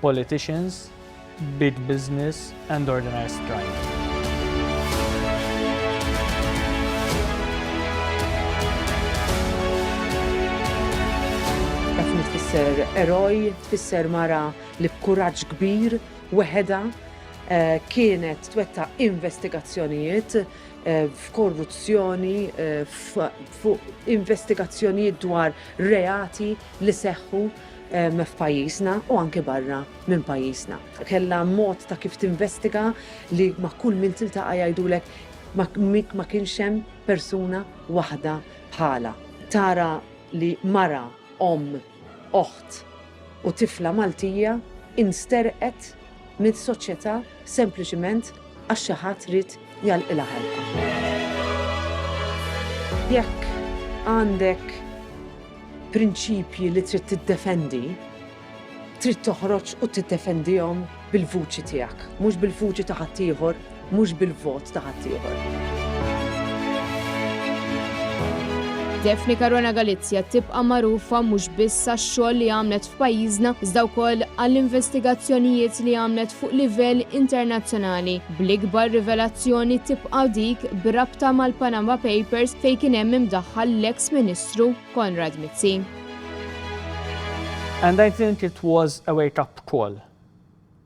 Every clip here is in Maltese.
politicians, big business and organised crime. Daphne tfisser eroj, tfisser mara li b'kuraġġ kbir weħedha eh, kienet twetta investigazzjonijiet Eh, f'korruzzjoni, eh, fuq investigazzjonijiet dwar reati li seħħu f'pajjiżna u anke barra minn pajjiżna. Kellha mod ta' kif tinvestiga li ma' kull min tiltaqa' jgħidulek ma kienx hemm persuna waħda bħalha. Tara li mara, omm, oħt u tifla Maltija insterqet minn soċjetà sempliċiment għax xi ħadd ried jgħalqilha ħalqha. Jekk għandek prinċipji li trid tiddefendi, trid toħroġ u tiddefendihom bil-vuċi tiegħek, mhux bil-vuċi ta' ħaddieħor. mhux bil-vot ta' ħaddieħor. Daphne Caruana Galizia tibqa' magħrufa mhux biss għax-xogħol li għamlet f'pajjiżna iżda wkoll għall-investigazzjonijiet li għamlet fuq livell internazzjonali, bl-ikbar rivelazzjoni tibqa' dik b'rabta mal-Panama Papers fejn kien hemm imdaħħal l-eks Ministru Konrad Mizzi. And I think it was a wake up call.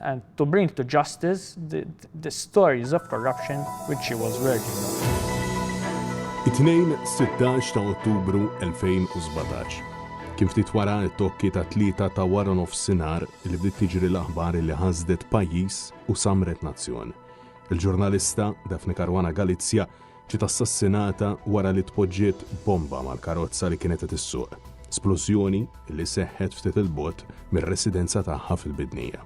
and to bring to justice the, the stories of corruption which she was working on. It-tnejn 16 ta' Ottubru 2017. Kien ftit wara t-tokki ta' tlieta ta' wara nofsinhar li bdiet tiġri l-aħbar li ħasdet pajjiż u samret nazzjon. Il-ġurnalista Daphne Caruana Galizia Ġiet assassinata wara li tpoġġiet bomba mal-karozza li kienet qed issuq, splużjoni li seħħet ftit 'il bogħod mir-residenza tagħha fil-Bidnija.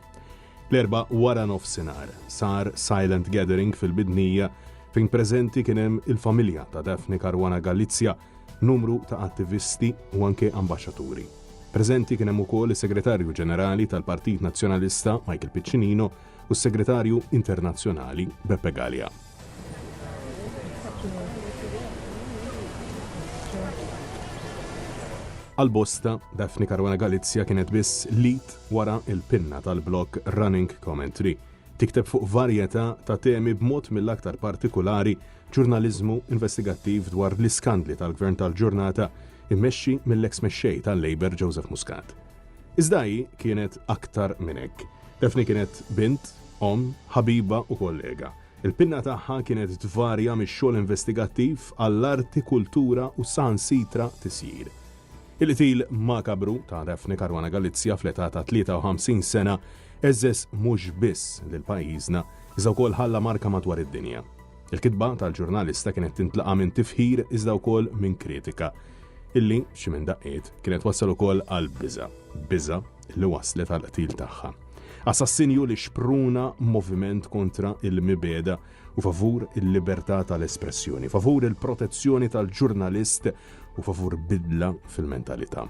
L-Erbgħa waranofsinhar sar silent gathering fil-Bidnija fejn preżenti kien hemm il-familja ta' Daphne Caruana Galizia, numru ta' attivisti u anke ambaxxaturi. Preżenti kien hemm ukoll is-Segretarju Ġenerali tal-Partit Nazzjonalista Michael Piccinino, u s-Segretarju Internazzjonali Beppe Galea. Għal bosta, Daphne Caruana Galizia kienet biss lead wara il-pinna tal-blog Running Commentary. Tikteb fuq varjetà ta' temi b'mod mill-aktar partikolari ġurnaliżmu investigattiv dwar l-iskandli tal-gvern tal-ġurnata immexxi mill-eks mexxej tal-Labour Joseph Muscat. Iżda hi kienet aktar minn hekk. Daphne kienet bint, omm, ħabiba u kollega. Il-pinna tagħha kienet tvarja mix-xogħol investigattiv għall-arti, kultura u saħansitra tisjir. Il-qtil makabru ta' Daphne Caruana Galizia fl-età ta' 53 sena għeżżeż mhux biss lil pajjiżna, iżda wkoll ħalla marka madwar id-dinja. Il-kitba tal-ġurnalista kienet tintlaqa' minn tifħir iżda wkoll minn kritika, illi, xi minn daqqiet, kienet wassal ukoll għal biża', biża' li wasslet għall-qtil tagħha. Assassinju li xpruna moviment kontra il-mibegħda u favur il-libertà tal-espressjoni, favur il-protezzjoni tal-ġurnalist u favur bidla fil-mentalità.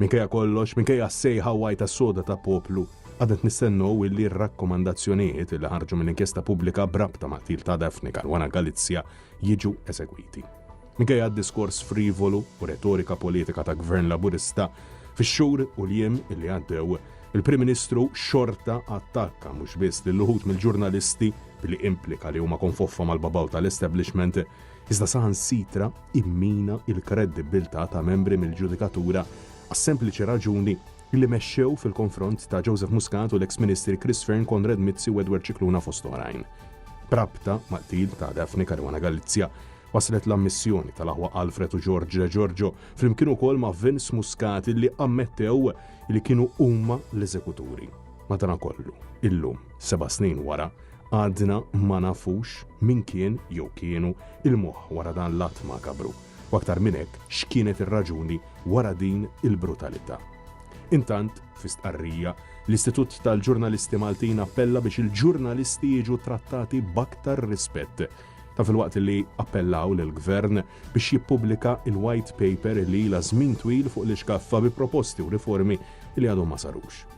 Minkejja kollox, minkejja s-sejħa wgħajta soda ta' poplu, għadna qed nistennew illi r-rakkomandazzjonijiet li ħarġu minn inkjesta pubblika b'rabta ma' qtil ta' Daphne Caruana Galizia jiġu esegwiti. Minkejja d-diskors frivolu u retorika politika ta' Gvern Laburista, fix-xhur u l-jiem illi għaddew, il-Prim Ministru xorta attakka mhux biss lil uħud mill-ġurnalisti billi implika li huma konfoffa mal-babaw tal-establishment, iżda saħansitra immina l-kredibbiltà ta' membri mill-ġudikatura għas-sempliċi raġuni li mexxew fil-konfront ta' Joseph Muscat u l-eks Ministri Chris Fearne, Konrad Mizzi u Edward Scicluna fost oħrajn. B'rabta mal-qtil ta' Daphne Caruana Galizia, waslet l-ammissjoni tal-aħwa Alfred u George De Giorgio flimkien ukoll ma' Vince Muscat illi ammettew li kienu huma l-eżekuturi. Madanakollu, illum, seba' snin wara, Għadna ma nafux min kien jew kienu il-moħħ wara dan l-att makabru, u aktar minn hekk x'kienet ir-raġuni wara din il-brutalità. Intant, fi stqarrija, l-Istitut tal-Ġurnalisti Maltin appella biex il-ġurnalisti jiġu trattati b'aktar rispett. Ta' filwaqt li appellaw lill-Gvern biex jippubblika il-White Paper li ilha żmien twil fuq l-iskaffa bi proposti u riformi li għadhom ma sarux.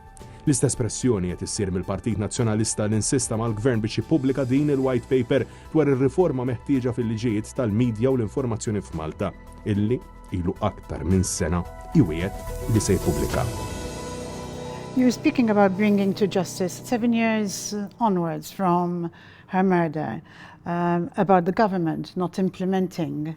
L-istess pressjoni qed issir mill-Partit Nazzjonalista li nsista mal-Gvern biex jippubblika din il-White Paper dwar ir-riforma meħtieġa fil-liġijiet tal-midja u l-informazzjoni f'Malta, illi ilu aktar minn sena iwiegħed li se jippubblika. You were speaking about bringing to justice seven years onwards from her murder, um, about the government not implementing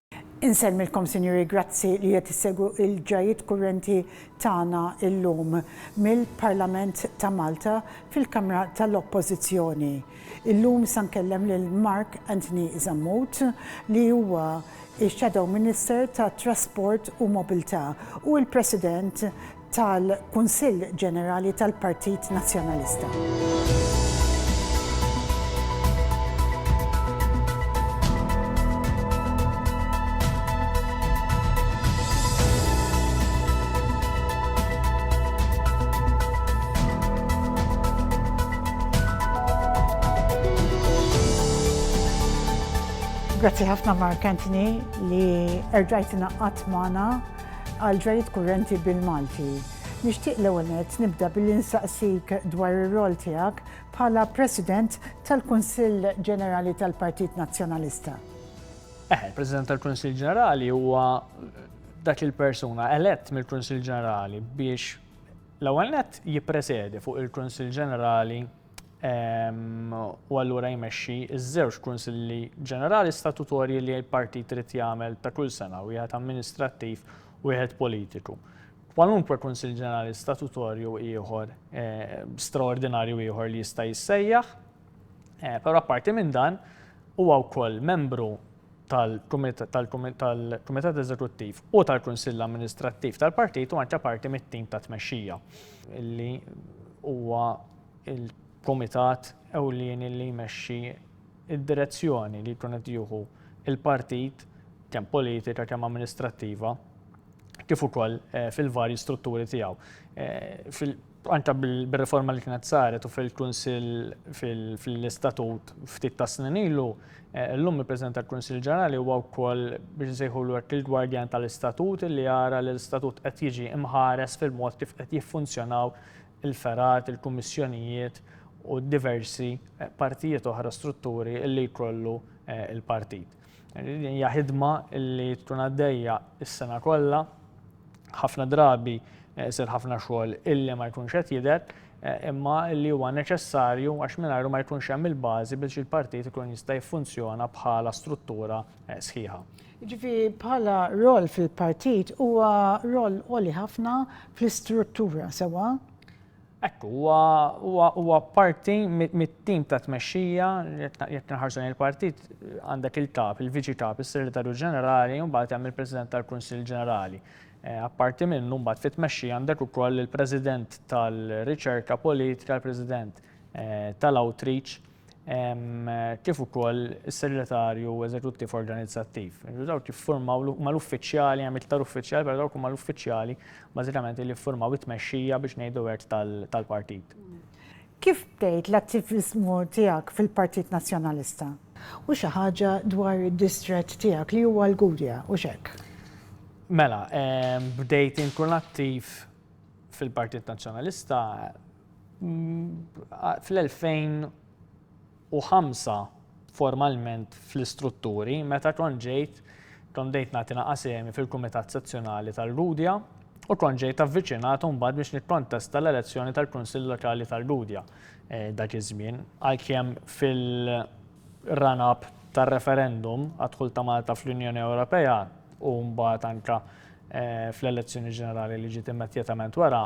Insellmilkom, Sinjuri, grazzi li qed issegwu l-ġrajjiet kurrenti tagħna llum mill-Parlament ta' Malta fil-Kamra tal-Oppożizzjoni. Illum sa nkellem lil Mark Anthony Zammut li huwa x-Shadow Minister tat-Trasport u Mobilità u l-President tal-Kunsill Ġenerali tal-Partit Nazzjonalista. Grazzi ħafna Mark Anthony li erġajt ingħaqadt magħna. Għal ġrajiet kurrenti bil-Malti, nixtieq l-ewwel nett nibda billi nsaqsik dwar ir-rwol tiegħek bħala President tal-Kunsill Ġenerali tal-Partit Nazzjonalista. Eħe, il-President tal-Kunsill Ġenerali huwa dak il-persuna elett mill-Kunsill Ġenerali biex l-ewwel nett jippresedi fuq il-Kunsill Ġenerali u allura jmexxi ż-żewġ Kunsilli Ġenerali Statutorji li l-Partit irid jagħmel ta' kull sena, wieħed amministrattiv u wieħed politiku. Kwalunkwe Kunsill Ġenerali Statutorju ieħor, straordinarju ieħor li jista' jissejjaħ, però apparti minn dan, huwa wkoll membru tal-Kumitat Eżekuttiv u tal-Kunsill Amministrattiv tal-Partit u anke parti mit-tim ta' tmexxija, li huwa il-kumitat ewlieni li jmexxi d-direzzjoni li jkun qed jieħu l-partit kemm politika, kemm amministrattiva, kif ukoll fil-varji strutturi tiegħu. Anke bir-riforma li kienet saret u fil-Kunsill fl-istatut ftit tas-snin ilu, llum il-President tal-Kunsill Ġenerali huwa wkoll biex insejħulu hekk il-gwardjan tal-istatut li jara li l-istatut qed jiġi mħares fil-mod kif qed jiffunzjonaw il-fergħat, il-kummissjonijiet u diversi partijiet oħra, strutturi li jkollu l-partit. Din hija ħidma li tkun għaddejja s-sena kollha, ħafna drabi jsir ħafna xogħol illi ma jkunx qed jidher, imma li huwa neċessarju għax mingħajru ma jkunx hemm il-bażi biex il-partit ikun jista' jiffunzjona bħala struttura sħiħa. Jiġifieri bħala roll fil-partit huwa roll għoli ħafna fl-istruttura, sewwa? Hekk hu, huwa huwa parti mit-tim ta' tmexxija, jekk inħarsu lejn il-partit għandek il-kap, il-viċi kap, is-segretarju ġenerali u mbagħad hemm il-President tal-Kunsill Ġenerali. Eh, apparti minnu mbagħad fit-tmexxi għandek ukoll il-President tal-Riċerka Politika, il-President eh, tal-Outreach. kif ukoll is-Segretarju Eżekuttiv Organizzattiv. Dawk jiffurmaw ma l-uffiċjali, hemm iktar uffiċjali, però dawk huma l-uffiċjali bażikament li jiffurmaw it-tmexxija biex ngħidu hekk tal-partit. Kif bdejt l-attiviżmu tiegħek fil-Partit Nazzjonalista? U xi ħaġa dwar id-distrett tiegħek li huwa l-Gudja, hux hekk? Mela, bdejt inkun attiv fil-Partit Nazzjonalista Fl-2005 formalment fl-istrutturi meta kont ġejt kont bdejt nagħti naqgħa sehemi fil-Kumitat Sezzjonali tal-Gudja u kont ġejt avviċinat imbagħad biex nikkontesta l-elezzjoni tal-Kunsill Lokali tal-Gudja dak iż-żmien. Għalkemm fil-run up tar-referendum għad-dħul ta' Malta fl-Unjoni Ewropea u mbagħad anke fl-elezzjoni ġenerali li ġiet immedjatament wara,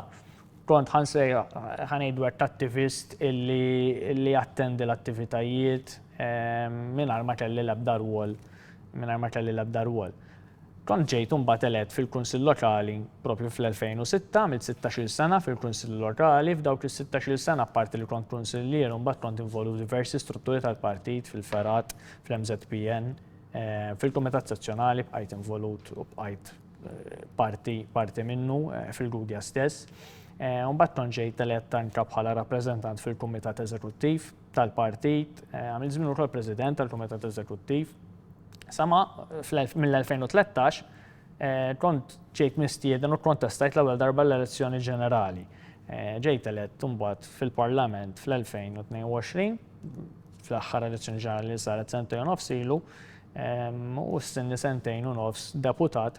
Kont ħa nsejħ, ħa ngħidu hekk, attivist li jattendi l-attivitajiet mingħajr ma kelli l-ebda rwol, mingħajr ma kelli l-ebda rwol. Kont ġejt imbagħad elett fil-Kunsill Lokali proprju fl-2006, għamilt sittax-il sena fil-Kunsill Lokali, f'dawk is-sittax-il sena apparti li kont kunsillier imbagħad kont involut f'diversi strutturi tal-partit, fil-fergħat, fl-MŻPN, fil-Kumitat Sezzjonali bqajt involut u bqajt parti, parti minnu eh, fil-Gudja stess. Eh, Umbat tonġej teletta anka bħala rappresentant fil-Kumitat Eżekuttiv tal-Partit, eh, għamil żmien ukoll President tal-Kumitat Eżekuttiv. Sama mill-2013 eh, kont ġejt mistieden u kontestajt l-ewwel darba l-elezzjoni ġenerali. Ġejt elett imbagħad fil-Parlament fl-2022 fl-aħħar elezzjoni ġenerali li saret sentejn nofsilu, u stenni sentejn u nofs deputat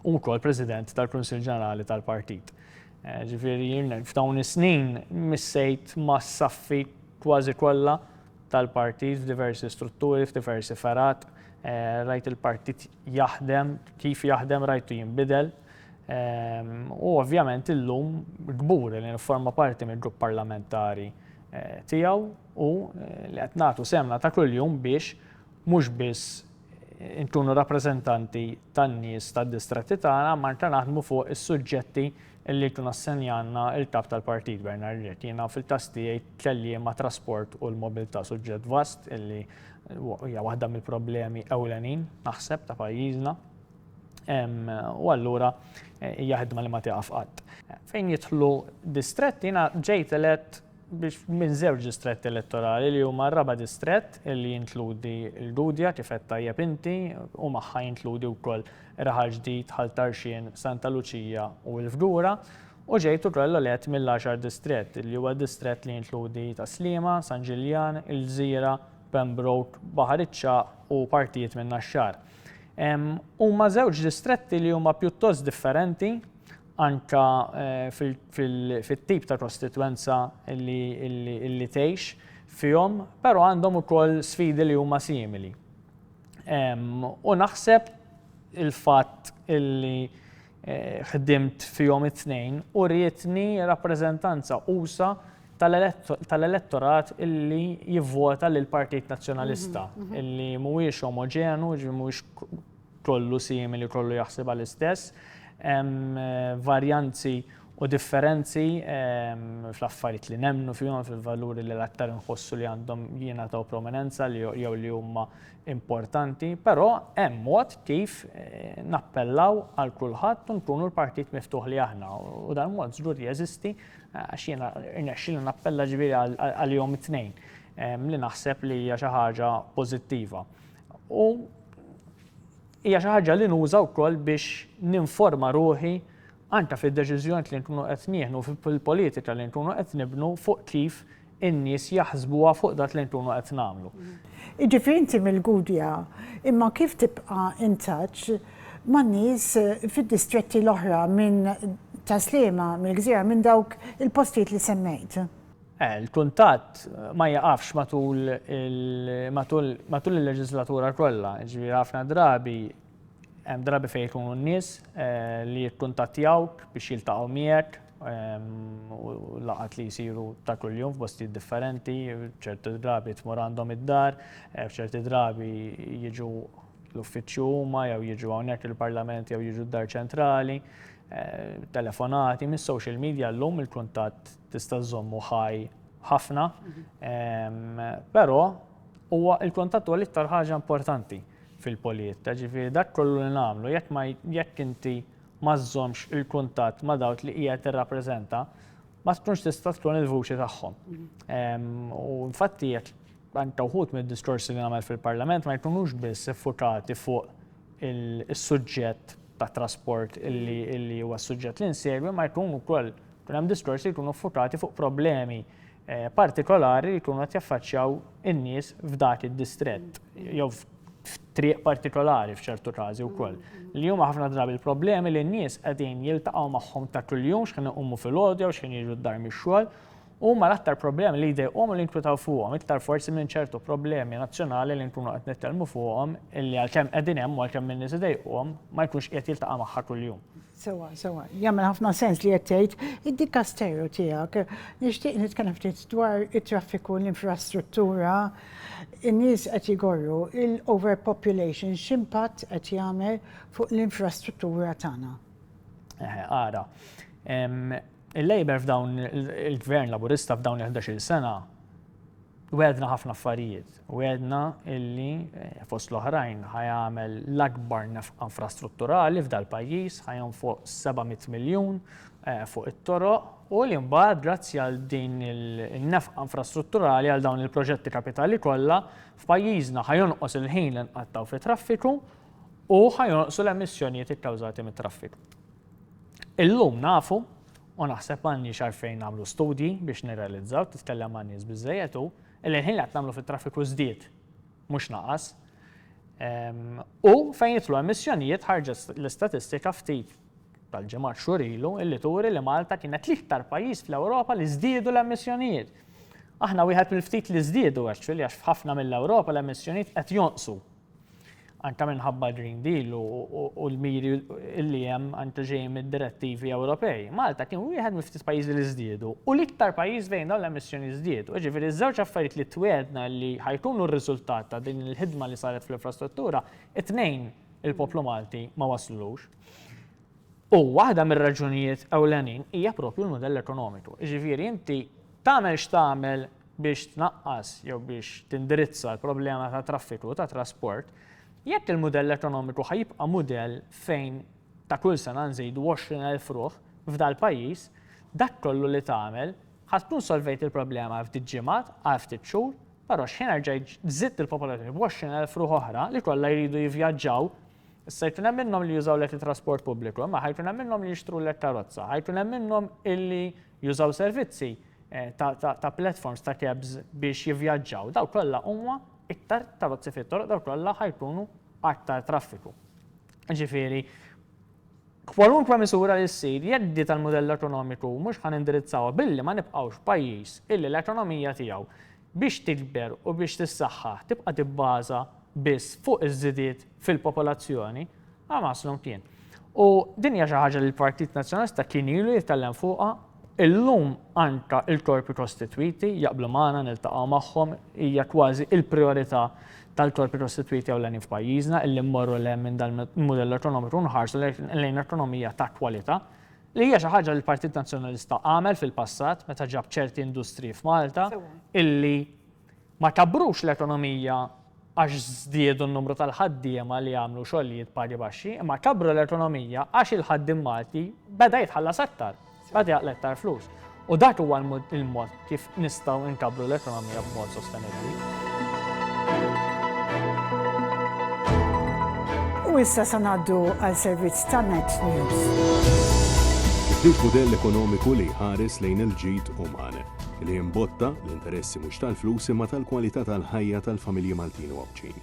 u wkoll President tal-Kunsill Ġenerali tal-Partit. Ġifieri f'dawn is-snin missejt mas-saffi kważi kollha tal-partit f'diversi strutturi, f'diversi fergħat, rajt il-partit jaħdem, kif jaħdem rajtu jinbidel. U ovvjament illum kburi li nifforma parti mill-grupp parlamentari tiegħu u li qed nagħtu sehemna ta' kuljum biex Mhux biss inkunu rappreżentanti tan-nies tad-distretti tagħna, imma anke naħdmu fuq is-suġġetti li jkun assenjalna l-Kap tal-Partit, Bernard Grech. Jiena fil-każ tiegħi kelli mat-trasport u l-mobilità, suġġett vast illi hija waħda mill-problemi ewlenin, naħseb, ta' pajjiżna. U allura hija ħidma li ma tieqaf qatt. Fejn jidħlu distretti, jiena ġejt elett biex minn żewġ distretti elettorali li huma r-raba' distrett li jinkludi l-Gudja kif għedt tajjeb inti u magħha jinkludi wkoll Raħal Ġdid, Ħal Tarxien, Santa Luċija u l-Fgura u ġejt ukoll elett mill-għaxar distrett li huwa d-distrett li jinkludi Tas-Sliema, San Ġiljan, il-Gżira, Pembroke, Baħar iċ-Ċagħaq u partijiet minn Naxxar. Huma żewġ distretti li huma pjuttost differenti anke fit-tip ta' kostitwenza li tgħix fihom, però għandhom ukoll sfidi li huma simili. U naħseb il-fatt li ħdimt fihom it-tnejn urietni rappreżentanza usa' tal-elettorat li jivvota lill-Partit Nazzjonalista, li mhuwiex omoġenu, jiġifieri mhuwiex kollu simili, kollu jaħsibha l-istess. Hemm varjanzi u differenzi fl-affarijiet li nemmnu fihom, fil-valuri li l-aktar inħossu li għandhom jingħataw prominenza li jew li huma importanti, però hemm mod kif nappellaw għal kulħadd u nkunu l-partit miftuħ li aħna. U dan mod żgur li jeżisti għax jiena rnexxieli nappella ġifieri għalihom it-tnejn li naħseb li hija xi ħaġa pożittiva. U hija xi ħaġa li nuża wkoll biex ninforma ruħi anke fid-deċiżjonijiet li nkunu qed nieħdu fil-politika li nkunu qed nibnu fuq kif in-nies jaħsbuha fuq dak li nkunu qed nagħmlu. Jiġifieri inti mill-Gudja, imma kif tibqa' in touch man-nies fid-distretti l-oħra minn Tas-Sliema, mill-Gżira, minn dawk il-postijiet li semmejt? Il-kuntatt ma jieqafx matul il-leġiżlatura kollha, jiġifieri ħafna drabi hemm drabi fejn ikunu n-nies li jikkuntattjawk biex jiltaqgħu miegħek u laqgħat li jsiru ta' kuljum f'postijiet differenti, ċerti drabi tmur għandhom id-dar, f'ċerti drabi jiġu l-uffiċċju huma jew jiġu hawnhekk il-Parlament jew jiġu d-Dar Ċentrali, telefonati, mis-social media llum il-kuntatt tista' żżommu ħaj ħafna, però huwa l-kuntatt huwa l-iktar ħaġa importanti fil-polijiet, ġifieri dak kollu li nagħmlu jekk ma jekk inti ma żżommx il-kuntatt ma' dawk li qiegħed tirrappreżenta, ma tkunx tista' tkun il-vuċi tagħhom. U infatti jekk anke wħud mid-diskorsi li nagħmel fil-Parlament ma jkunux biss iffukati fuq is-suġġett tat-trasport illi huwa s-suġġett li nsegwi ma jkun ukoll Kien hemm diskorsi li jkunu ffukati fuq problemi partikolari li jkunu qed jaffaċċjaw in-nies f'dak id-distrett jew f'triq partikolari f'ċertu każi wkoll. Li huma ħafna drabi l-problemi li n-nies qegħdin jiltaqgħu magħhom ta' kuljum x'ħin iqumu filgħodu jew x'ħin jiġu d-dar mix-xogħol huma l-aktar problemi li jdejqhom u li jinkwitaw fuqhom, iktar forsi minn ċertu problemi nazzjonali li nkunu qed nitkellmu fuqhom illi għalkemm qegħdin hemm u għalkemm in-nies idejquhom ma jkunx qiegħed jiltaqa' magħha kuljum. Sewwa, sewwa. Jagħmel ħafna sens li qed tgħid. Id-dikasteru tiegħek, nixtieq nitkellem ftit dwar it-traffiku, l-infrastruttura, in-nies qed jgorru, l-overpopulation x'impatt qed jagħmel fuq l-infrastruttura tagħna? Eħe, ara. Il-Labour f'dawn, il-Gvern Laburista f'dawn il-ħdax-il sena Wegħedna ħafna affarijiet. Wegħedna illi, fost l-oħrajn, ħajamel l-akbar nefqa infrastrutturali f'dal-pajjiż, ħajonfoq 700 miljun fuq it-toroq u li mbagħad grazzi għal din in-nefqa infrastrutturali għal dawn il-proġetti kapitali kollha f'pajjiżna ħajonqos il-ħin li nqattgħu fit-traffiku u ħajonqsu l-emissjonijiet ikkawżati mit-traffiku. Illum nafu, u naħseb m'għandniex għalfejn nagħmlu studji biex nirrealizzaw, titkellem ma' nies biżżejjed hu, li l-ħin li qed nagħmlu fit-traffiku żdied, mhux naqas. U fejn jidħlu emissjonijiet ħarġet l-istatistika ftit tal-ġimgħat xhur ilu illi turi li Malta kienet l-iktar pajjiż fl-Ewropa li żdiedu l-emissjonijiet. Aħna wieħed mill-ftit li żdiedu actually għax f'ħafna mill-Ewropa l-emissjonijiet qed jonqsu anke minħabba l-Green Deal u l-miri li hemm anke ġejjin mid-direttivi Ewropej, Malta kien wieħed mill-ftit pajjiżi li żdiedu u l-iktar pajjiż fejn dawn l-emissjonijiet żdiedu. Jiġifieri ż-żewġ affarijiet li twiegħdna li ħa jkunu r-riżultat ta' din il-ħidma li saret fl-infrastruttura, it-tnejn il-poplu Malti ma waslulux. U waħda mir-raġunijiet ewlenin hija proprju l-mudell ekonomiku. Jiġifieri inti tagħmel x'tagħmel, biex tnaqqas jew biex tindirizza l-problema ta' traffiku ta' trasport, jekk il-mudell ekonomiku ħa jibqa' mudell fejn ta' kull sena nżidu 20,000 ruħ f'dal-pajjiż, dak kollu li tagħmel ħa tkun solvejt il-problema għal ftit ġimgħat, għal ftit xhur, però x'ħin erġa' żidt il-popolazzjoni b'20,000 ruħ oħra li kollha jridu jivvjaġġaw Issa jkun hemm minnhom li jużaw lek it-trasport pubbliku, imma ħajkun hemm minnhom li jixtru lek karozza, ħajkun hemm minnhom illi jużaw servizzi eh, ta' platforms ta' cabs biex jivvjaġġaw. Daw kollha huma iktar karozzi fit-toroq, daw kollha ħajkunu aktar traffiku. Ġifieri, kwalunkwe misura li ssir jeddi tal-modell ekonomiku mhux ħan indirizzaw billi ma nibqgħux pajjiż illi l-ekonomija tiegħu biex tikber u biex tissaħħaħ tibqa' tibbaża biss fuq iż-żidiet fil-popolazzjoni, Hamas lhom kien. U din hija xi ħaġa li l-Partit Nazzjonalista kien ilu jitkellem fuqha, illum anke l-korpi kostitwiti jaqblu magħna niltaqgħu magħhom, hija kważi l-prijorità tal-korpi kostitwiti ewlenin f'pajjiżna illi mmorru 'l hemm minn dan il-mudell ekonomiku u nħarsu lejn ekonomija ta' kwalità. Li hija xi ħaġa li l-Partit Nazzjonalista għamel fil-passat meta ġab ċerti industriji f'Malta illi ma kabbrux l-ekonomija għax żdiedu n-numru tal-ħaddiema li jagħmlu xogħlijiet pagi baxxi, imma kabbru l-ekonomija għax il-ħaddiem Malti beda jitħallas aktar, beda jaqla iktar flus. U dak huwa l-mod kif nistgħu nkabbru l-ekonomija b'mod sostenibbli. U issa se ngħaddu għal servizz ta' Net News. Ġdid mudell ekonomiku li jħares lejn il-ġid uman, li jimbotta l-interessi mhux tal-flus imma tal-kwalità tal-ħajja tal-familji Maltin u Għawdxin.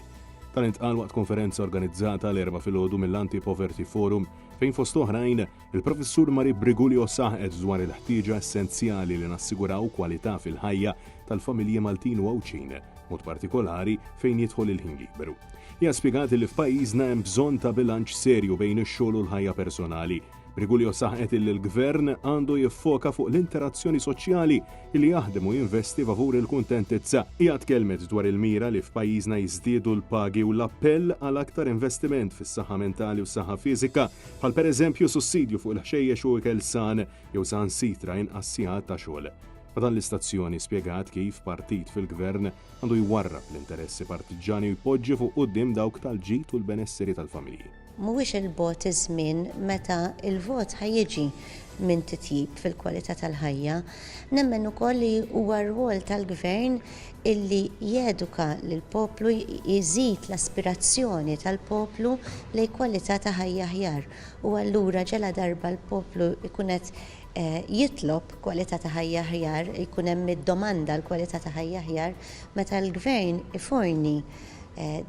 Tal-intqal waqt konferenza organizzata l-erba' filgħodu mill-Anti Poverty Forum fejn fost oħrajn Il-Professur Marie Brigulio saħqet dwar il-ħtieġa essenzjali li nassiguraw kwalità fil-ħajja tal-familji Maltin u Għawdxin, mod partikolari fejn jidħol il-ħin liberu. Hija spjegat li f'pajjiżna hemm bżonn ta' bilanċ serju bejn ix-xogħol u l-ħajja personali. Brigulio saħqet li l-Gvern għandu jiffoka fuq l-interazzjoni soċjali li jaħdem u jinvesti favur il-kuntentizza. Hija tkellmet dwar il-mira li f'pajjiżna jiżdiedu l-pagi u l-appell għal aktar investiment fis-saħħa mentali u s-saħħa fiżika bħal pereżempju sussidju fuq il-ħxejjex u ikel san jew saħansitra inqas sigħat ta' xogħol. Ma' dan l-istazzjoni spjegat kif partit fil-Gvern għandu jwarrab l-interessi partiġġani u jpoġġi fuq quddiem dawk tal-ġid u l-benesseri tal-familji. Mhuwiex 'il bogħod iż-żmien meta l-vot ħa jiġi minn titjib fil-kwalità tal-ħajja. Nemmen ukoll li huwa r-rwol tal-Gvern illi jeduka lill-poplu jżid l-aspirazzjoni tal-poplu lejn kwalità ta' ħajja aħjar u allura ġaladarba l-poplu jkun qed jitlob kwalità ta' ħajja aħjar, jkun hemm id-domanda għal kwalità ta' ħajja aħjar, meta l-gvern iforni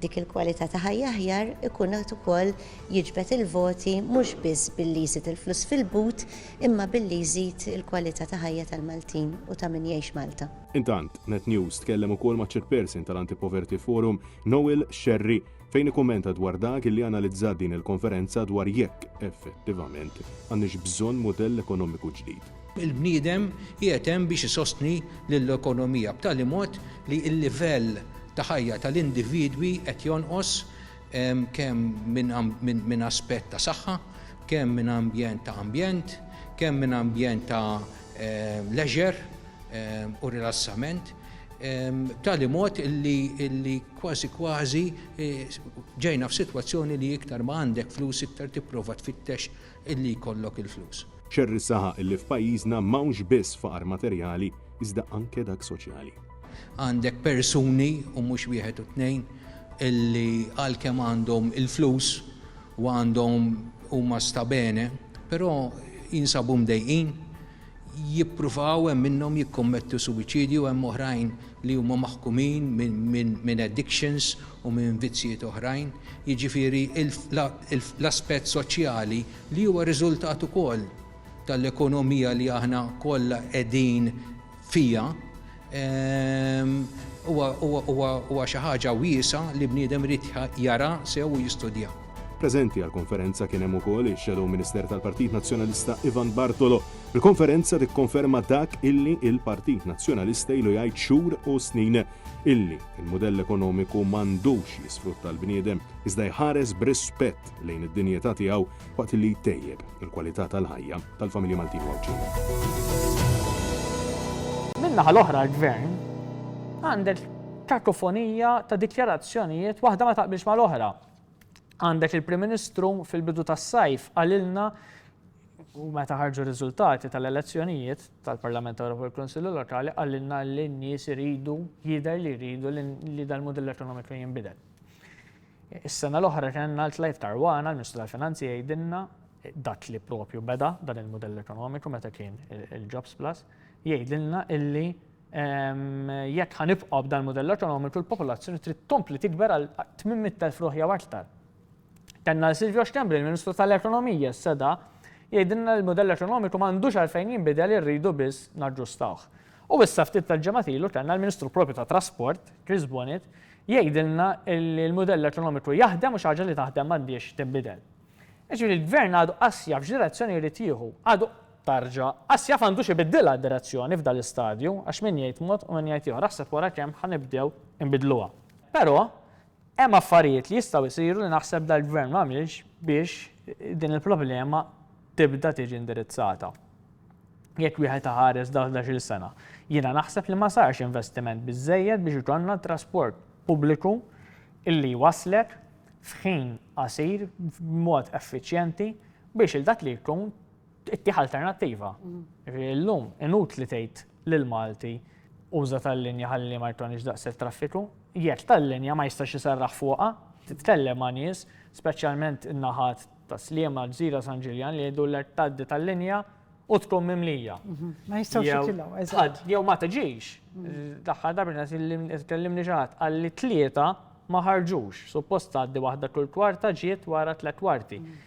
dik il-kwalità ta' ħajja aħjar ikun qed ukoll jiġbed il-voti mhux biss billi jżid il-flus fil-but imma billi jżid il-kwalità ta' ħajja tal-Maltin u ta' min jgħix Malta. Intant, Net News tkellem ukoll maċ-Chairperson tal-Anti-Poverty Forum, Noel Scerri, fejn ikkummenta dwar dak li analizzat din il-konferenza dwar jekk, effettivament, għandniex bżonn mudell ekonomiku ġdid. Il-bniedem qiegħed hemm biex isostni lill-ekonomija b'tali mod li l-livell ta' ħajja tal-individwi qed jonqos kemm minn aspett ta' saħħa, kemm minn ambjent ta' ambjent, kemm minn ambjent ta' leisure, u rilassament b'tali mod li kważi kważi eh, ġejna f'sitwazzjoni li iktar ma għandek flus iktar tipprova tfittex illi jkollok il-flus. Cherry saħaq illi f'pajjiżna m'hawnx biss faqar materjali iżda anke dak soċjali. Għandek persuni u mhux wieħed u tnejn illi għalkemm għandhom il-flus u għandhom huma stabene, però jinsabu mdejqin jippruvaw, hemm minnhom jikkommettu suwiċidju, hemm oħrajn li huma maħkumin minn addictions u minn vizzjiet oħrajn. Jiġifieri l-aspett soċjali li huwa riżultat ukoll tal-ekonomija li aħna kollha qegħdin fiha, Huwa xi ħaġa wiesgħa li bniedem irid jara sew u jistudja. Preżenti għall-konferenza kien hemm ukoll ix-Shadow Minister tal-Partit Nazzjonalista Ivan Bartolo. Il-konferenza tikkonferma dak illi l-Partit Nazzjonalista ilu jgħid xhur u snin, illi l-mudell ekonomiku m'għandux jisfrutta l-bniedem, iżda jħares b'rispett lejn id-dinjità tiegħu waqt li jtejjeb il-kwalità tal-ħajja tal-familji Maltin u Għawdxin. Min-naħa l-oħra l-Gvern għandek kakofonija ta' dikjarazzjonijiet waħda ma taqbilx mal-oħra. Għandek il-Prim Ministru fil-bidu tas-sajf qalilna u meta ħarġu riżultati tal-elezzjonijiet tal-Parlament Ewropew u l-Kunsillu Lokali qalilna li n-nies iridu jidher li jridu li dal-mudell ekonomiku jinbidel. Is-sena l-oħra kellna l-Clive Caruana, l-Ministru tal-Finanzi jgħidilna dak li propju beda dan il-mudell ekonomiku meta kien il-Jobs Plus, jgħidilna illi jekk ħanibqgħu b'dan il-mudell ekonomiku l-popolazzjoni trid tkompli tikber għal 800,000 ruħ jew aktar. Kellna Silvio Schembri, l-Ministru tal-Ekonomija s-seda, jgħidilna l-mudell ekonomiku m'għandux għalfejn jinbidel irridu biss naġġustawh. U issa ftit tal-ġimgħat ilu kellna l-Ministru propju tat-Trasport, Chris Bonnitt, jgħidilna li l-mudell ekonomiku jaħdem u xi ħaġa li taħdem m'għandhiex tinbidel. Jiġifieri l-Gvern għadu qas jaf x'direzzjoni jrid jieħu, għadu, tarġa', qas jaf għandux ibiddilha d-direzzjoni f'dan l-istadju għax min jgħid mod u min jgħid ieħor, aħseb wara kemm ħa nibdew inbiddluha. Però, Hemm affarijiet li jistgħu jsiru li naħseb dal-Gvern m'għamilx biex din il-problema tibda tiġi indirizzata. Jekk wieħed iħares dawn l-għexiel sena, jiena naħseb li ma sarx investiment biżżejjed biex ikollna trasport pubbliku li jwasslek f'ħin qasir b'mod effiċjenti biex 'il dak li jkun Ittieħ alternattiva. Illum inut li tgħid lil Malti uża tal-linja ħalli ma jtonix daqshekk traffiku, jekk tal-linja ma jistax isarraħ fuqha, titkellem ma' nies, speċjalment in-naħat ta' Sliema, Gżira, San Ġiljan li jgħidulek tgħaddi tal-linja u tkun mimlija. Mhm. Ma jistgħux jitilgħu, eżatt. Jew ma tiġix. Daħħal mhm. darba tkellimni ġaħat għalli tlieta ma ħarġux. Suppost tgħaddi waħda kull kwarta ġiet wara tliet kwarti. Mhm.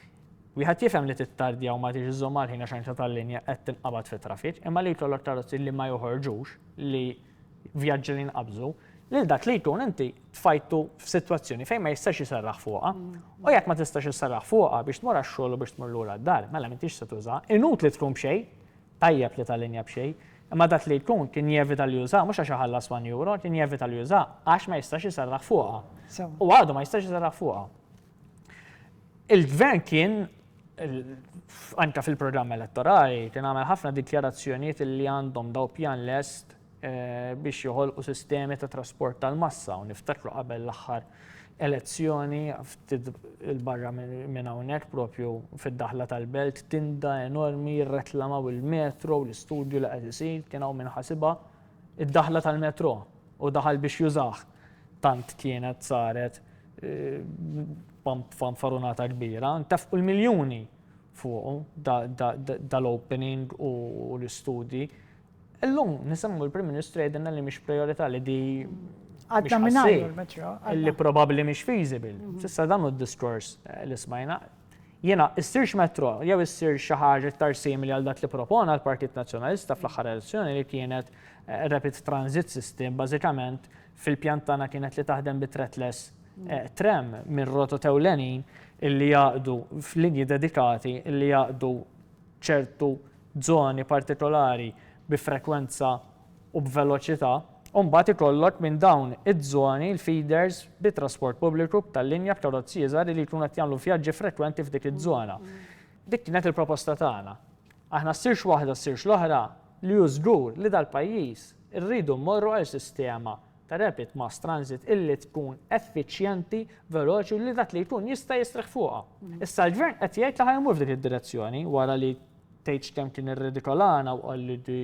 Wieħed jifhem li tittardja u ma tridx iżżomm mal-ħin għax għajnta tal-linja qed tinqabad fit-traffic, imma li jkollok karozzi li ma joħorġux, li vjaġġi li jinqabżu, lil dak li jkun inti tfajtu f'sitwazzjoni fejn ma jistax iserraħ fuqha. U jekk ma tistax isserraħ fuqha biex tmur għax-xogħol u biex tmur lura d-dar, mela m'intix se tużaha. Inutli tkun b'xejn, tajjeb li tal-linja b'xejn, imma dak li jkun kien jevita li jużaha mhux għax iħallas one euro, kien jevita li jużaha għax ma jistax iserraħ fuqha. U għadu ma jistax iserraħ fuqha. Il-gvern kien anka fil-programm elettorali kien għamel ħafna dikjarazzjonijiet li għandhom daw pjan lest eh, biex joħolqu sistemi ta' trasport tal-massa u niftakru qabel l-aħħar elezzjoni il-barra minn hawnhekk propju fid-daħla tal-belt tinda enormi reklamaw il-metro u l-istudju li qed isir kien hawn minn ħasibha Id-daħla tal-metro u daħal biex jużah tant kienet saret fanfarunata kbira, ntefqu l-miljuni fuqu dal-opening u l-istudji. Illum nisimgħu l-Prim Ministru jgħidilna li mhix prijorità li di Għadna mingħajr il-metro. Li probabbli mhix feasible. S'issa dan hu d-diskors li smajna. Jiena, issirx metrò jew issir xi ħaġa iktar simili għal dak li propona l-Partit Nazzjonalista fl-aħħar elezzjoni li kienet rapid transit system bażikament fil-pjan tagħna kienet li taħdem bi threadless tram minn rotot ewlenin illi jaqdu f'linji dedikati illi jaqdu ċertu żoni partikolari bi frekwenza u b'veloċità, u mbagħad ikollok minn dawn iż-żoni l-feeders bit-trasport pubbliku b'tal-linja b'karozzi iżgħar li jkunu qed jagħmlu vjaġġi frekwenti f'dik iż-żona. Dik kienet il-proposta tagħna. Aħna ssirx waħda ssirx l-oħra, li hu żgur li dal-pajjiż irridu mmorru għal sistema ta' rapid mass transit illi tkun effiċjenti, veloċi u li dak li jkun jista' jistrieħ fuqha. Issa l-Gvern qed jgħid li ħa jmur f'dik id-direzzjoni wara li Tgħidx kemm kien irredikolana u qal li di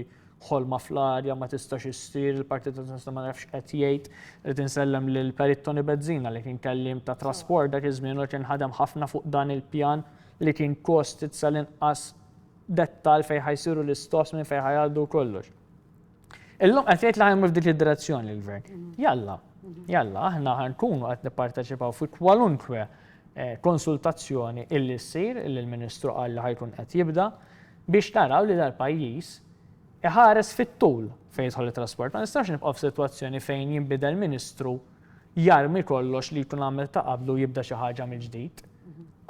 ħolma fl-arja ma tistax issir, il-Partit Nazzjonalista ma nafx qed jgħid. Rrid insellem lill-Perit Toni Bezzina li kien kelliem ta' trasport dak iż-żmien u kien ħadem ħafna fuq dan il-pjan li kien kostit sal-inqas dettall fejn ħa jsiru l-istops, minn fejn ħa jgħaddu u kollox. Illum qed jgħid li ħajmu f'dik id-direzzjoni l-gvern. Jalla, jalla, aħna ħankunu qed nipparteċipaw fi kwalunkwe eh, konsultazzjoni illi ssir illi l-Ministru qal li ħajkun qed jibda biex naraw li dal-pajjiż iħares fit-tul fejn jidħol it-trasport. Ma nistax nibqgħu f'sitwazzjoni fejn jinbidel ministru jarmi kollox li jkun għamel ta' qablu jibda xi ħaġa mill-ġdid.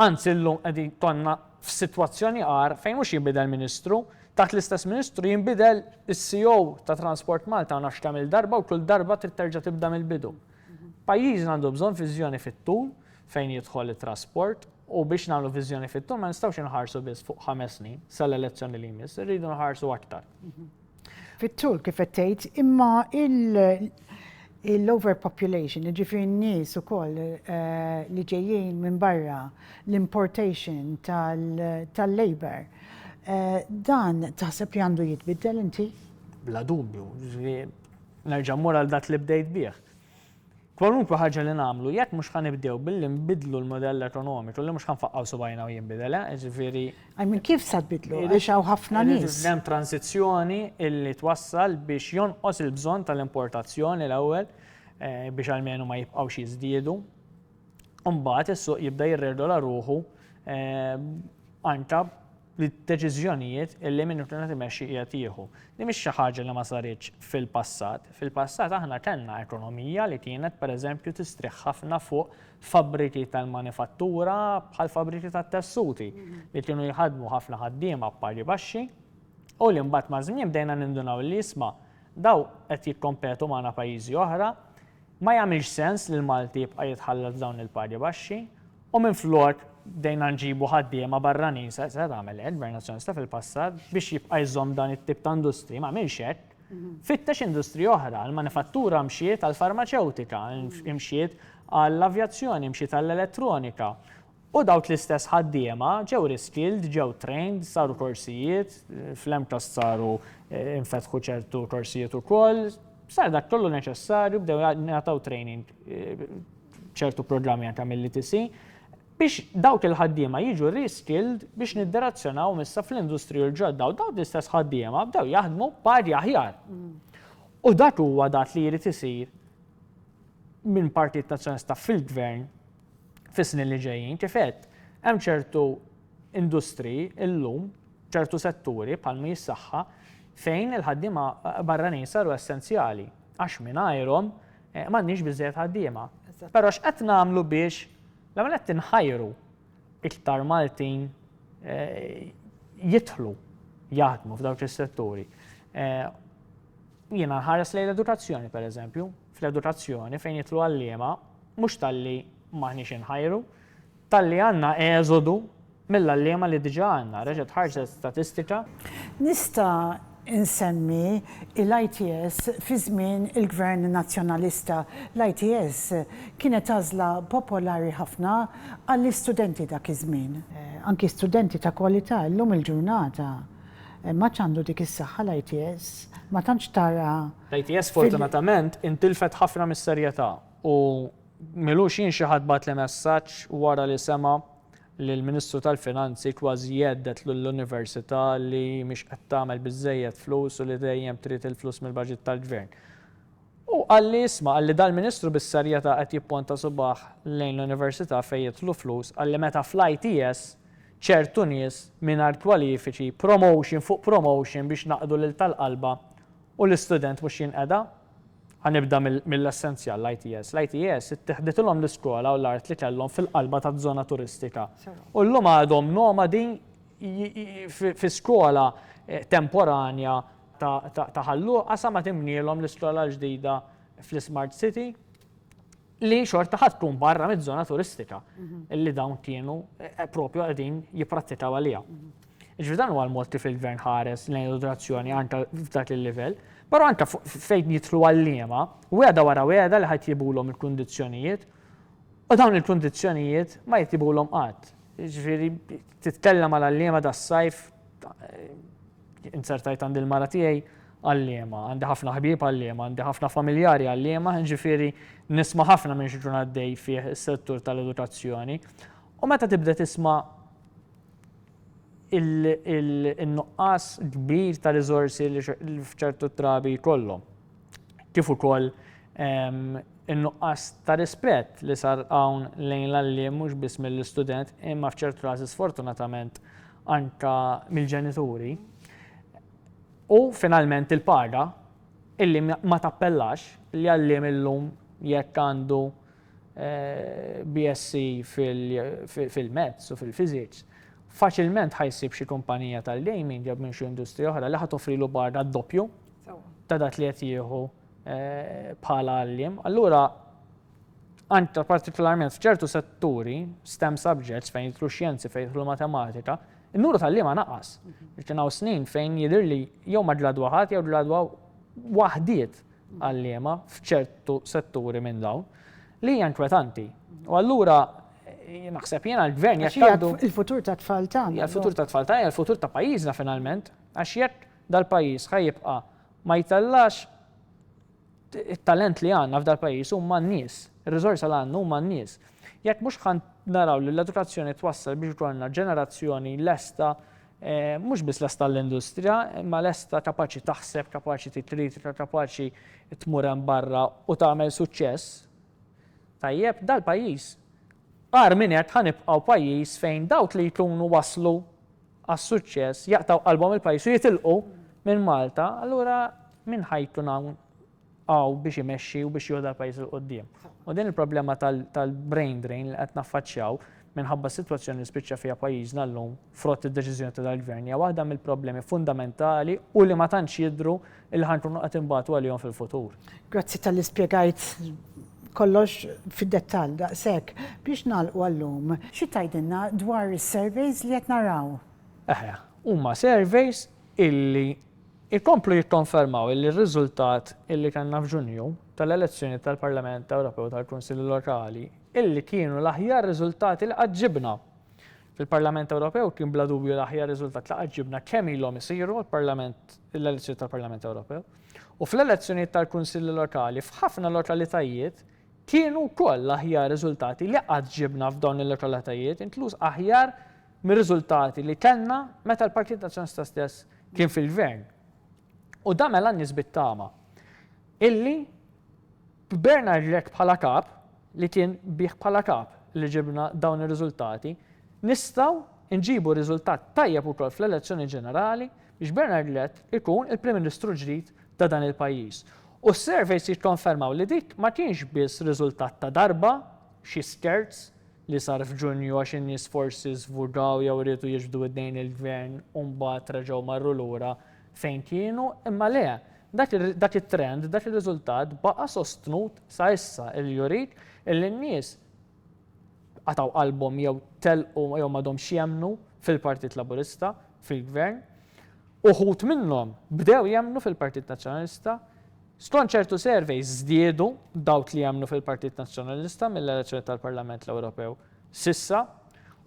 Anzi llum qegħdin tonna F'sitwazzjoni agħar, fejn mhux jinbidel Ministru, taħt l-istess Ministru jinbidel is-CEO ta' Transport Malta ma nafx kemm-il darba u kull darba trid terġa' tibda mill-bidu. Pajjiżna għandu bżonn viżjoni fit-tul fejn jidħol it-trasport u biex nagħmlu viżjoni fit-tul ma nistgħux inħarsu biss fuq ħames snin, sal-elezzjoni li jmiss, irridu nħarsu aktar. Fit-tul kif qed tgħid, imma l-overpopulation, jiġifieri n-nies ukoll li ġejjin minn barra, l-importation tal-labor, dan taħseb li għandu jitbiddel inti? Bla dubju, jiġifieri nerġa' mmur għal dak li bdejt bih. Kwalunkwe ħaġa li nagħmlu, jekk mhux ħa nibdew billi nbiddlu l-mudell ekonomiku, li mhux ħa nfaqqgħu subgħajna u jinbidel, eh, jiġifieri. I mean, kif sa tbiddlu, għax hawn ħafna nies. Irid ikun hemm transizzjoni li twassal biex jonqos il-bżonn tal-importazzjoni l-ewwel, biex almenu ma jibqgħux jiżdiedu. u mbagħad is-suq jibda jirregola ruħu anke bid-deċiżjonijiet li min ikun qed imexxi qiegħed jieħu. Din mhix xi ħaġa li ma saritx fil-passat. Fil-passat aħna kellna ekonomija li kienet pereżempju tistrieħ ħafna fuq fabbriki tal-manifattura bħal fabbriki tat-tessuti li kienu jħaddmu ħafna ħaddiema b'pagi baxxi u li mbagħad maż-żmien bdejna nindunaw li isma' dawn qed jikkompetu magħna pajjiżi oħra Ma jagħmilx sens li l-Malti jibqa' jitħallat f'dawn il-pagi baxxi u minflok bdejna nġibu ħaddiema barranin, se tagħmel hekk, Gvern Nazzjonalista fil-passat, biex jibqa' jżomm dan it-tip ta' industriji, ma għamilx hekk. Fittex industriji oħra, l-manifattura mxiet għall-farmaċewtika, mxiet għall-avjazzjoni, mxiet għall-elettronika. U dawk l-istess ħaddiema ġew reskilled, ġew trained, saru korsijiet, fl-MCAST saru infetħu ċertu korsijiet ukoll, sar dak kollu neċessarju, bdew jingħataw training ċertu programmi anke mill-ETC, biex dawk il-ħaddiema jiġu reskilled biex nidderazzjonawhom issa fl-industriji l-ġodda u dawk l-istess ħaddiema bdew jaħdmu pagi aħjar. U dak huwa dak li jrid isir minn Partit Nazzjonalista fil-Gvern, fis-snin li ġejjin. Kif għedt, hemm ċertu industriji llum, ċertu setturi bħal mi s-saħħa fejn il-ħaddiema barranin saru essenzjali għax mingħajrhom eh, m'għandniex biżżejjed ħaddiema. Però x'qed nagħmlu biex l-għamel qed tinħajru iktar Maltin eh, jitħlu jaħdmu f'dawk is-setturi. Eh, jiena ħares lejn l-edukazzjoni, per eżempju, fl-edukazzjoni fejn jidħlu għalliema mhux talli m'aħniex inħajru, talli għandna eżodu mill-għalliema li diġà għandna, reġgħet ħarġet statistika. Nista' nsemmi l-ITS fi żmien il-Gvern Nazzjonalista. L-ITS kienet għażla popolari ħafna għall-istudenti dak iż-żmien. Anki studenti ta' kwalità llum il-ġurnata m'għadx għandu dik is-saħħa l-ITS, ma tantx tara L-ITS fortunatament intilfet ħafna mis-serjetà u m'ilux jien xi ħadd bagħatli messaġġ wara li sema' li l-Ministru tal-Finanzi kważi jhedded lill-Università li mhix qed tagħmel biżżejjed flus u li dejjem trid il-flus mill-baġit tal-Gvern. Hu qalli isma' qalli dal-Ministru bis-serjetà qed jipponta subagħ lejn l-Università fejn jidħlu flus qalli meta fl-ITS ċertu nies mingħajr kwalifiċi promotion fuq promotion biex naqdu lil tal-qalba U l-istudent mhux jinqeda? Ħa nibda mill-essenzjal, l-ITS. L-ITS ittiħditilhom l-iskola u l-art li kellhom fil-qalba taż-żona turistika. U llum għadhom nomadi fi skola temporanja ta' Ħal Luqa sa ma tinbnielhom l-iskola l-ġdida fl-iSmart City. li xorta ħadd tkun barra miż-żona turistika li dawn kienu eh, propju qegħdin jipprattikaw għaliha. Ġifieri dan huwa l-mod kif il-gvern ħares lejn edukazzjoni anke f'dak il-livell, però anke fejn jitlu għalliema, weda wara weda li ħadd jibulhom il-kundizzjonijiet u dawn il-kundizzjonijiet ma jitibulhom qatt. Ġifieri titkellem għal għalliema das-sajf eh, Inzertajt għand il-mara tiegħi għalliema, għandi ħafna ħbieb għalliema, għandi ħafna familjari għalliema, ġifieri nisma' ħafna minn x'ikun għaddej fih is-settur tal-edukazzjoni. U meta tibda tisma' il-nuqqas kbir ta' riżorsi li f'ċertu trabi jkollhom. Kif ukoll ehm, in-nuqqas ta' rispett li sar hawn lejn l-għalliem mhux biss mill-istudent imma f'ċertu każi sfortunatament anke mill-ġenituri, u finalment il-paga illi ma tappellax, li għalliem illum jekk għandu BSc fil-Maths u fil-Physics, faċilment ħa jsib xi kumpanija tal-gaming jew minn xi industrija oħra li ħa toffrilu paga d-doppju ta' dak li qed jieħu bħala għalliem. Allura Anke partikolarment f'ċertu setturi, stem subjects, fejn jidħlu xjenzi, fejn jidħlu matematika, in-nuru tal-liema naqas. Kien hawn snin fejn jidhir li jew ma ġladwa ħadd jew ġladwa waħdiet għalliema f'ċertu setturi minn dawn li hija inkwetanti. U allura naħseb jiena l-gvern jekk għandu. Il-futur ta' tfal tagħna. Il-futur ta' tfal tagħna, il-futur ta' pajjiżna finalment, għax jekk dal-pajjiż ħajibqa' ma jtellax It-talent li għandna f'dal-pajjiż huma n-nies. Ir-riżorsa li għandna huma n-nies. Jekk mhux ħa naraw li l-edukazzjoni twassal biex jkollna ġenerazzjoni lesta, mhux biss lesta għall-industrija, imma lesta kapaċi taħseb, kapaċi trid kritika, kapaċi tmur hemm barra u tagħmel suċċess, tajjeb, dal-pajjiż, agħar minn hekk ħa nibqgħu pajjiż fejn dawk li jkunu waslu, għas-suċċess jaqtgħu qalbhom il-pajjiż u jitilqu minn Malta, allura min ħa jkun hawn hawn biex imexxi u biex jieħu dal-pajjiż 'il quddiem? U din il-problema tal-brain drain li qed naffaċċjaw minħabba s-sitwazzjoni li spiċċa fiha pajjiżna llum frott id-deċiżjoni ta' dal-Gvern hija waħda mill-problemi fundamentali u li ma tantx jidhru Illi ħa nkunu qed inbatu għalihom fil-futur. Grazzi tal-li spjegajt kollox fid-dettall daqshekk. Biex nagħlqu għallum, xi tgħidilna dwar is-surveys li qed naraw? Eħe, huma surveys illi jkomplu jikkonfermaw illi r-riżultat illi kellna f'Ġunju tal-elezzjoni tal-Parlament Ewropew tal-Kunsilli Lokali illi kienu l-aħjar riżultati li qatt ġibna. Fil-Parlament Ewropew kien bla dubju l-aħjar riżultat li qatt ġibna kemm ilhom isiru l-Parlament, l-elezzjonijiet tal-Parlament Ewropew. U fl-elezzjonijiet tal-Kunsilli Lokali f'ħafna lokalitajiet kienu wkoll l-aħjar riżultati li qatt ġibna f'dawn il-lokalitajiet, inkluż aħjar mir-riżultati li kellna meta l-Partit Nazzjonalista stess kien fil-Gvern. U dan mela n-nies bit-tama illi b'Bernard Grech bħala kap, li kien bih bħala kap li ġibna dawn ir-riżultati, nistgħu nġibu riżultat tajjeb ukoll fl-elezzjoni ġenerali biex Bernard Grech ikun il-Prim Ministru ġdid ta' dan il-pajjiż. U s-surveys jikkonfermaw li dik ma kienx biss riżultat ta' darba, xi scherz li sar f'Ġunju għax in-nies forsi żvugaw jew riedu jiġbdu idnejn il-Gvern u mbagħad reġgħu marru lura fejn kienu imma le, dak it-trend, dak ir-riżultat baqa' sostnut sa issa li jurik li n-nies qatgħu qalbhom jew telqu jew m'għadhomx jemmnu fil-Partit Laburista, fil-Gvern. Uħud minnhom bdew jemmnu fil-Partit Nazzjonalista. Skont ċertu surveys żdiedu dawk li jemmnu fil-Partit Nazzjonalista mill-elezzjoni tal-Parlament l-Ewropew s'issa.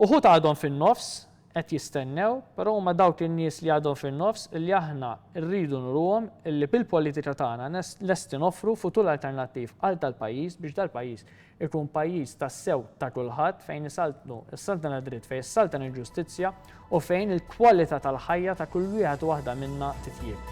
Uħud għadhom fin-nofs qed jistennew, però huma dawk in-nies li għadhom fin-nofs li aħna rridu nuruhom li bil-politika tagħna lesti noffru futur alternattiv għal dal-pajjiż biex dal-pajjiż ikun pajjiż tassew ta' kulħadd fejn isaltnu s-saltna tad-dritt, fejn issaltan il-ġustizzja u fejn il-kwalità tal-ħajja ta' kull wieħed u waħda minna titjieb.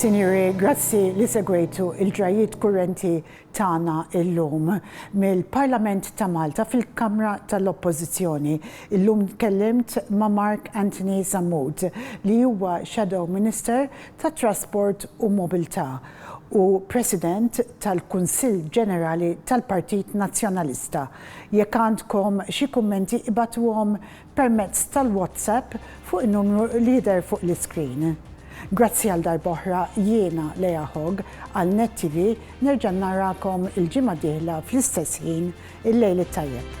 Sinjuri, grazzi li segwejtu l-ġrajjiet kurrenti tagħna llum. Mill-Parlament ta' Malta fil-Kamra tal-Oppożizzjoni, illum tkellimt ma' Mark Anthony Sammut li huwa Shadow Minister tat-Trasport u Mobilità u President tal-Kunsill Ġenerali tal-Partit Nazzjonalista. Jekk għandkom xi kummenti ibgħatuhom permezz tal-WhatsApp fuq in-numru li jidher fuq l-iskrin. Grazzi għal darba oħra jiena Leah Hogg għal Net TV nerġa' narakom il-ġimgħa d-dieħla fl-istess ħin il-lejl it-tajjeb.